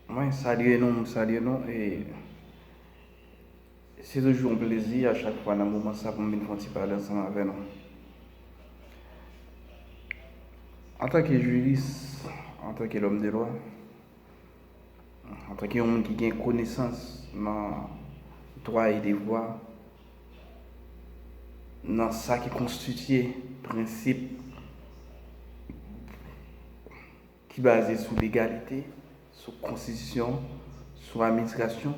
Mwen salye nou, mwen salye nou e se toujou yon plezi a chak fwa nan moman sa pou m vin fè yon ti pale ansanm avè nou. Antanke jiris, antanke lòm de lwa, Antanke yon moun ki gen konesans nan dwa e devwa, nan sa ki konstitye prensip ki baze sou legalite, sou konstitisyon, sou administrasyon,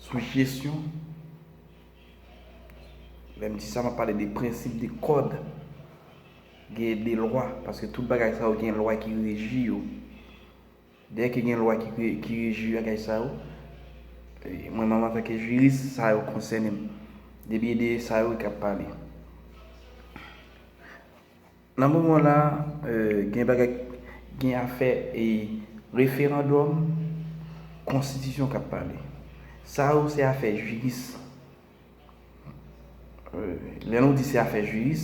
sou jesyon, lè m di sa m ap pale de prensip de kòd. Gen de lwa, paske tout bagay sa yo gen lwa ki reji yo. Dèyè ke gen lwa ki reji bagay sa yo, mwen menm antanke jiris, sa yo konsène m. Depi e de sa yo ki ap pale. Nan moman la, gen bagay, gen afè e referandòm, konstitisyon k ap pale. Sa yo se afè jiris. Lè nou di se afè jiris,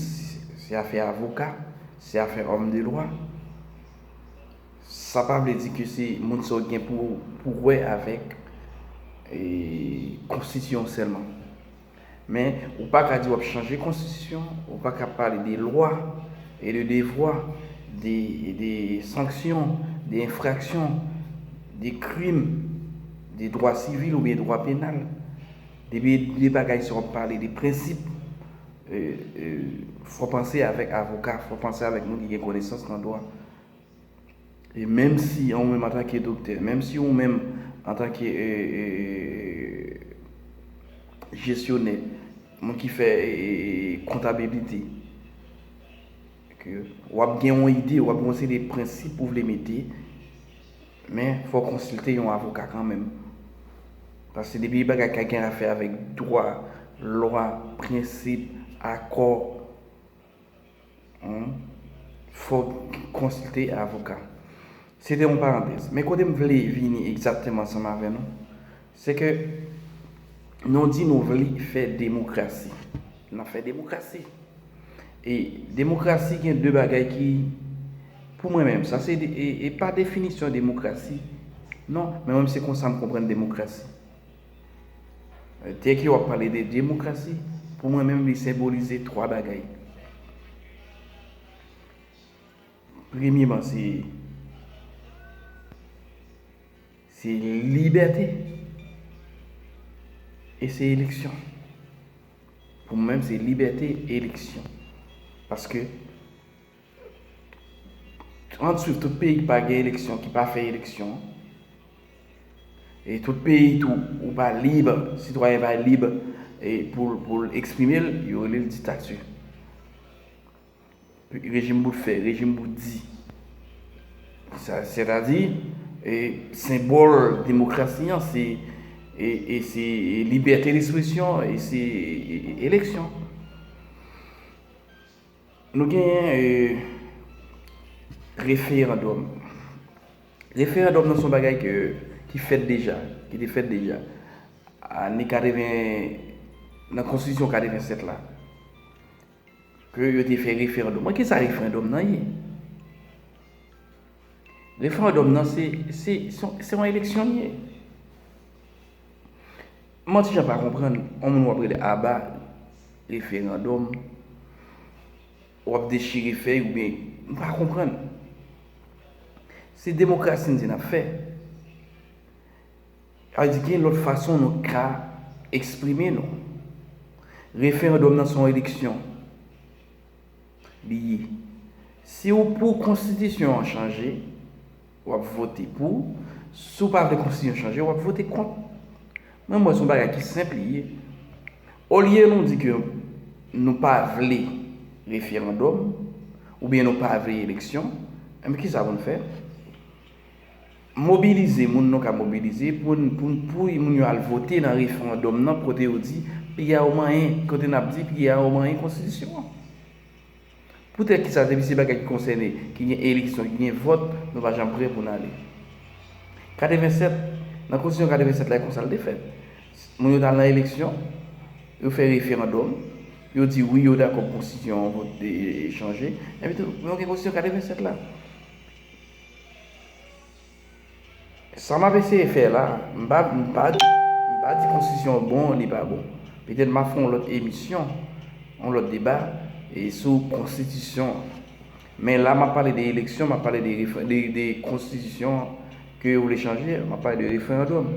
se afè avoka, se afè òm de lwa, sa pa vle di ke se moun sa yo gen pou wè avèk konstitisyon sèlman. Men, ou pa ka di wap chanje konstitisyon, ou pa ka pale de lwa, e de devwa, de sanksyon, de enfraksyon, de krim, de dwa sivil oubyen dwa penal. Depi de bagay sa wap pale de prensip fò panse avèk avoka, fò panse avèk moun ki gen konesans nan dwa. E menm si ou menm antanke doktè, menm si ou menm antanke jesyonè, moun ki fè kontabilite, wap gen yon ide, wap gen yon seri de prensip ou vle mete Men fò w konsilte yon avoka kanmenm. Paske depi bagay kay gen afè avèk dwa, lwa, prensip, akò, humm, fò w konsilte avoka. Se te yon parantèz. Men kote m vle vini egzakteman ansanm avè nou, Se ke nou di nou vle fè demokrasi. N ap fè demokrasi. E demokrasi gen de bagay ki, pou mwen menm, sa se e pa definisyon demokrasi, non, men mwen se konsa m konprann demokrasi. Dèke w ap pale de demokrasi, pou mwen menm li senbolize twa bagay. Premyeman se se libète e se eleksyon. Pou mwen menm se libète e eleksyon. Paske an swiv tout peyi ki pa gen eleksyon, ki pa fè eleksyon. E tout peyi tou ou pa lib, sitwayen pa lib pou l eksprime l, yo rele l diktati. Rejim bout fè, rejim bout di. Sètadi, senbòl demokrasi an se libète despresyon e se eleksyon. Nou genyen referandòm. Referandòm nan son bagay ki fèt deja, ki te fèt deja. Ane 80, nan konstitisyon 87 la. Ke yo te fè referandòm lan. Ki sa referandòm lan ye? Referandòm lan se, se, se yon eleksyon li ye. M'en ti jan pa konprann, yon moun w'ap rele aba referandòm, w'ap dechire fèy ou byen, m'pa konprann. Se demokrasi n di n'ap fè. Sa vle di gen lòt fason nou ka eksprime nou. Referandòm nan se yon eleksyon li ye. Si ou pou konstitisyon an chanje, w ap vote pou. Si ou pa vle konstitisyon chanje, w ap vote kont. Mwen wè se yon bagay ki senp li ye. Olye nou di ke nou pa vle referandòm oubyen nou pa vle eleksyon, enben kisa pou nou fè? Mobilize moun nou ka mobilize pou n pou n pou moun yo al vote nan referandòm nan kote yo di piya yo manyen kote n ap di piya yo manyen konstitisyon an. Poutèt ki sa depi se bagay ki konsène ki gen eleksyon ki gen vòt nou pa janm prè pou n ale. 87 nan konstitisyon 87 la e konsa l te fèt moun yo t al nan eleksyon yo fè referandòm yo di wi yo dakò pou konstitisyon an vote chanje enpi tou men w gen konstitisyon 87 la. Sa map eseye fè la, m pa m pa di m pa di konstitisyon bon li pa bon. Petèt map fè yon lòt emisyon, yon lòt deba e sou konstitisyon an. Men la map pale de eleksyon, map pale de refren de de konstitisyon an ke yo vle chanje an, map pale de referandòm.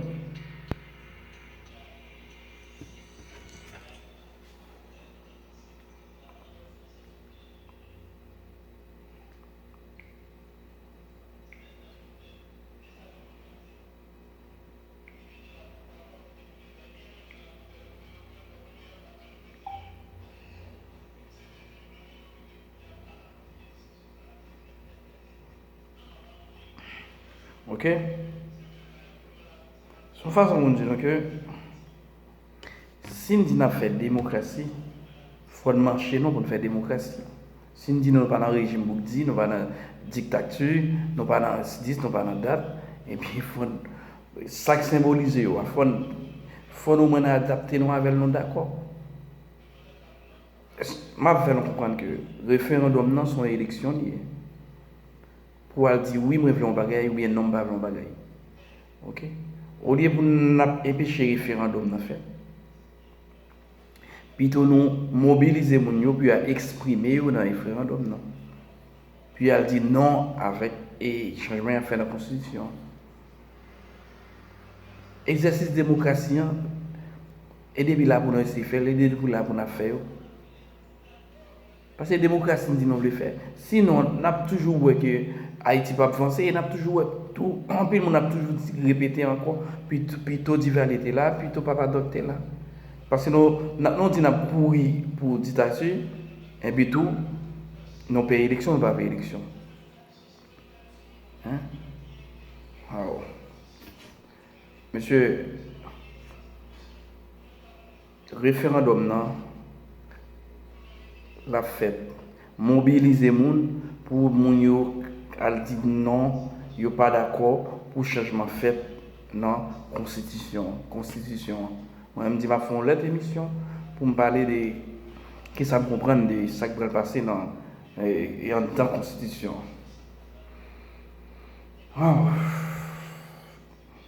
Ok? Son fason moun di nou ke Si n di n ap fè demokrasi, fò n manche non pou n fè demokrasi. Si n di nou pa nan rejim boukdi, nou pa nan diktati, nou pa nan dis, nou pa nan dat, ebyen fò n, sa k senbolize yo a, fò n, fò n omwen n adapte nou avè l, nou dakò. M ap fè nou konprann ke referandòm nan se yon eleksyon li ye. Pou w al di wi mwen vle yon bagay oubyen non m pa vle yon bagay. Ok olye pou n ap enpeche referandom nan fèt pito nou mobilize moun yo pou yo al eksprime yo nan referandom nan pou yo al di non avèk e chanjman y ap fè nan konstitisyon an egzèsis demokrasi an e depi la pou nou eseye fè l e depi la pou n ap fè yo. Paske demokrasi n di nou vle fè. Sinon, n ap toujou wè ke Ayiti p ap vanse e n ap toujou wè tou, anpil moun ap toujou di, repete ankò, pito Divalye te la, pito Papa Dòk te la. Paske nou, lè nou di n ap kouri pou diktati, enpi tou, nou pè eleksyon, nou pa vle eleksyon. Hein? Waw! Mesye! Referandòm nan lap fèt. Mobilize moun pou moun yo al di non yo pa dakò pou chanjman fèt nan konstitisyon an. Mwen menm di map fè yon lòt emisyon poum pale de kisa m konprann de sak pral pase nan anndan konstitisyon an.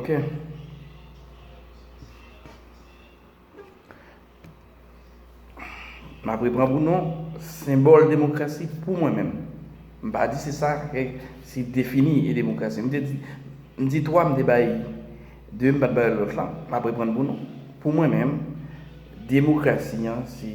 Ok. M ap repran pou nou, senbòl demokrasi pou mwen menm. M pa di se sa ke si defini e demokrasi. M te di, m di 3 m te bay, 2 m pa t bay lòt lan. M ap repran pou nou. Pou mwen menm, demokrasi an se.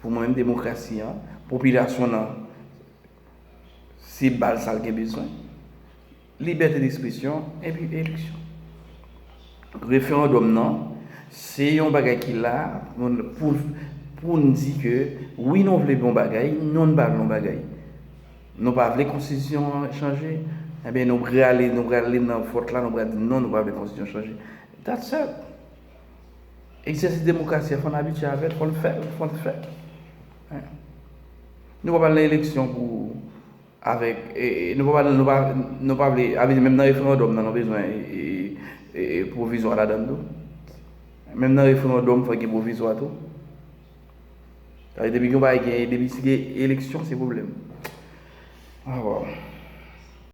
Pou mwen menm demokrasi an, popilasyon nan se bal sa l gen bezwen. Libète despresyon epi eleksyon. Referandòm nan se yon bagay ki la pou n di ke wi nou vle yon bagay, non nou pa vle yon bagay. Nou pa vle konstitisyon an chanje, enben nou prale nan vòt la, nou prale di non nou pa vle konstitisyon chanje. That's all. Egzèsis demokrasi a fò n abitye avè l, fò n fè l, fò l fèt. Nou pa pral nan eleksyon pou avèk, nou pa pral, nou pa vle, avè di menm nan referandòm nan nou bezwen pwovizwa ladan l tou. Menm nan referandòm fò gen pwovizwa tou. Sa vle di depi gen yon bagay gen, depi si gen eleksyon se pwoblèm. Waw.